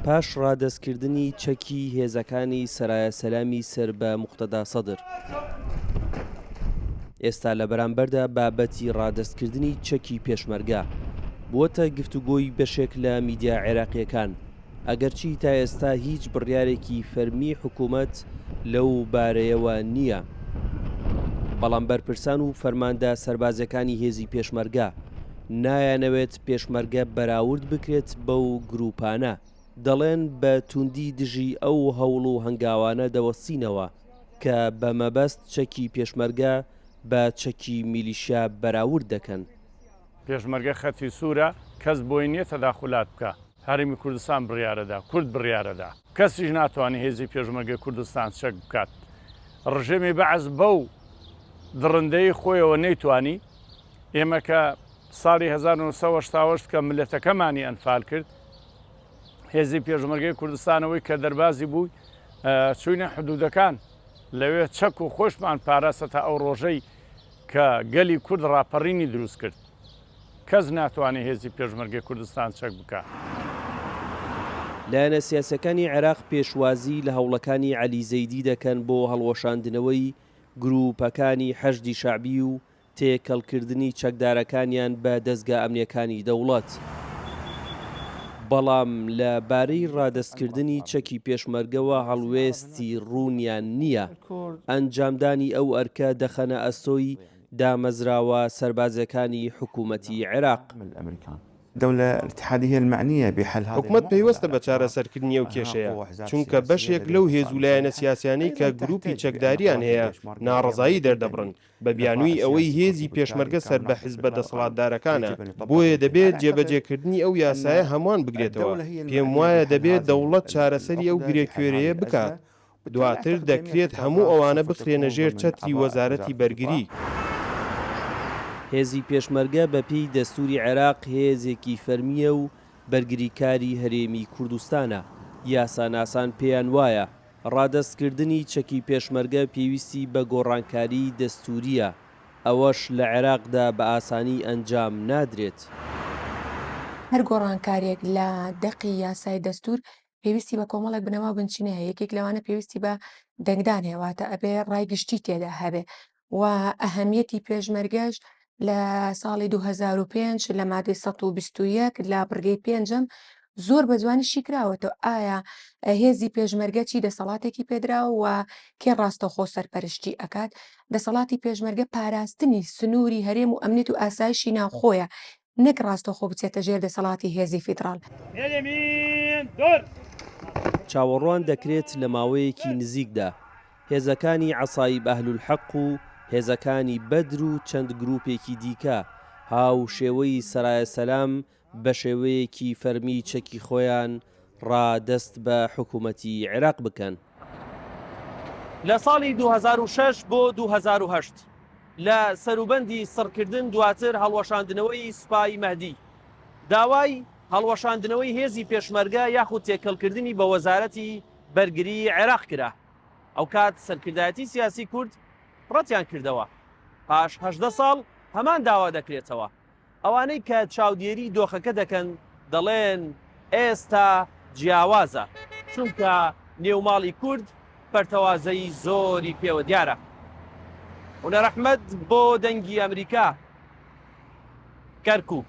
پاش ڕادەستکردنی چەکی هێزەکانی سەرایا سەلامی سەر بە موقتەدا سەدر، ئێستا لە بەرامبەردا بابەتی ڕادەستکردنی چەکی پێشمەرگە بووەتە گفتوگۆی بەشێک لە میدیا عێراقییەکان، ئەگەرچی تا ئێستا هیچ بڕیارێکی فەرمی حکوومەت لەو بارەیەوە نییە، بەڵام بەرپرسان و فەرماندە سەربازییەکانی هێزی پێشمەرگە نایانەوێت پێشمەرگە بەراورد بکرێت بەو گرووپانە، دەڵێن بە توندی دژی ئەو هەوڵ و هەنگاوانە دەوەستینەوە کە بە مەبەست چەکی پێشمەرگە بە چەکی میلیشیا بەراورد دەکەن. پێشمەرگە خەتی سوورە، کەس بۆی نییە تەداخولات بکا. هەرێمی کوردستان بڕیارەدا، کورد بڕیارەدا. کەسیش ناتوانێ هێزی پێشمەرگەی کوردستان چەک بکات. ڕژێمی بەعس بەو دڕندەیی خۆیەوە نەیتوانی. ئێمە کە ساڵی هەزار و نۆ سەد و هەشتا و هەشت کە مللەتەکەمانی ئەنفال کرد، هێزی پێشمەرگەی کوردستان ئەوەی کە دەربازی بووی چووینە حدوودەکان، لەوێ چەک و خۆشمان پاراست هەتا ئەو ڕۆژەی کە گەلی کورد ڕاپەڕینی دروست کرد. کەس ناتوانێت هێزی پێشمەرگەی کوردستان چەک بکات. لایەنە سیاسیەکانی عێراق پێشوازی لە هەوڵەکانی عەلی زەیدی دەکەن بۆ هەڵوەشاندنەوەی گرووپەکانی حەشدی شەعبی و تێکەڵکردنی چەکدارەکانیان بە دەزگا ئەمنیەکانی دەوڵەت، بەڵام لە بارەی ڕادەستکردنی چەکی پێشمەرگەوە هەڵوێستی ڕوونیان نییە، ئەنجامدانی ئەو ئەرکە دەخەنە ئەستۆی دامەزراوە سەربازیەکانی حکوومەتی عێراق. حکومەت پەیوەستە بە چارەسەرکردنی ئەو کێشەیە، چونکە بەشێک لەو هێز و لایەنە سیاسیانەی کە گرووپی چەکداریان هەیە ناڕەزایی دەردەبڕن، بە بیانووی ئەوەی هێزی پێشمەرگە سەر بە حزبە دەسەڵاتدارەکانە، بۆیە دەبێت جێبەجێکردنی ئەو یاسایە هەمووان بگرێتەوە، پێم وایە دەبێت دەوڵەت چارەسەری ئەو گرێکوێرەیە بکات. دواتر دەکرێت هەموو ئەوانە بخرێنە ژێر چەتری وەزارەتی بەرگری. هێزی پێشمەرگە بە پێی دەستوری عێراق هێزێکی فەرمییە و بەرگریکاری هەرێمی کوردستانە، یاساناسان پێیان وایە ڕادەستکردنی چەکی پێشمەرگە پێویستی بە گۆڕانکاری دەستورییە، ئەوەش لە عێراقدا بە ئاسانی ئەنجام نادرێت. هەر گۆڕانکارییەک لە دەقی یاسای دەستور پێویستی بە کۆمەڵێک بنەما و بنچینە هەیە یەکێک لەوانە پێویستی بە دەنگدان هەیە واتە ئەبێ ڕای گشتی تێدا هەبێ و ئەهەمیەتی پێشمەرگەش لە ساڵی 2005 لە مادەی 1920 لە بڕگەی پێنجەم زۆر بە جوانی شیکراوەتەوە ئایا هێزی پێشمەرگە چی دەسەڵاتێکی پێدراوە و کێ ڕاستەخۆ سەرپەرشتی ئەکات دەسەڵاتی پێشمەرگە پاراستنی سنووری هەرێم و ئەمنێت و ئاسایشی ناوخۆیە نەک ڕاستەوخۆ بچێتە ژێر دەسەڵاتی هێزی فیدڕاڵ. چاوەڕوان دەکرێت لە ماوەیەکی نزیکدا هێزەکانی عەسائیب ئەهلولحەق و هێزەکانی بەدر و چەند گرووپێکی دیکە هاوشێوەی سەرایە سەلام بەشێوەیەکی فەرمی چەکی خۆیان ڕا دەست بە حکوومەتی عێراق بکەن. لە ساڵی دوو هەزار و شەش بۆ دوو هەزار و هەشت لە سەروبەندی سڕکردن دواتر هەڵوەشاندنەوەی سوپای مەهدی داوای هەڵوەشاندنەوەی هێزی پێشمەرگە یاخود تێکەڵکردنی بە وەزارەتی بەرگریی عێراق کرا ئەوکات سەرکردایەتی سیاسی کورد ڕەتیان کردەوە پاش هەژدە ساڵ هەمان داوا دەکرێتەوە. ئەوانەی کە چاودێری دۆخەکە دەکەن دەڵێن ئێستا جیاوازە، چونکە نێو ماڵی کورد پەرتەوازەیی زۆری پێوە دیارە. هونەر ئەحمەد بۆ دەنگی ئەمریکا، کەرکوک.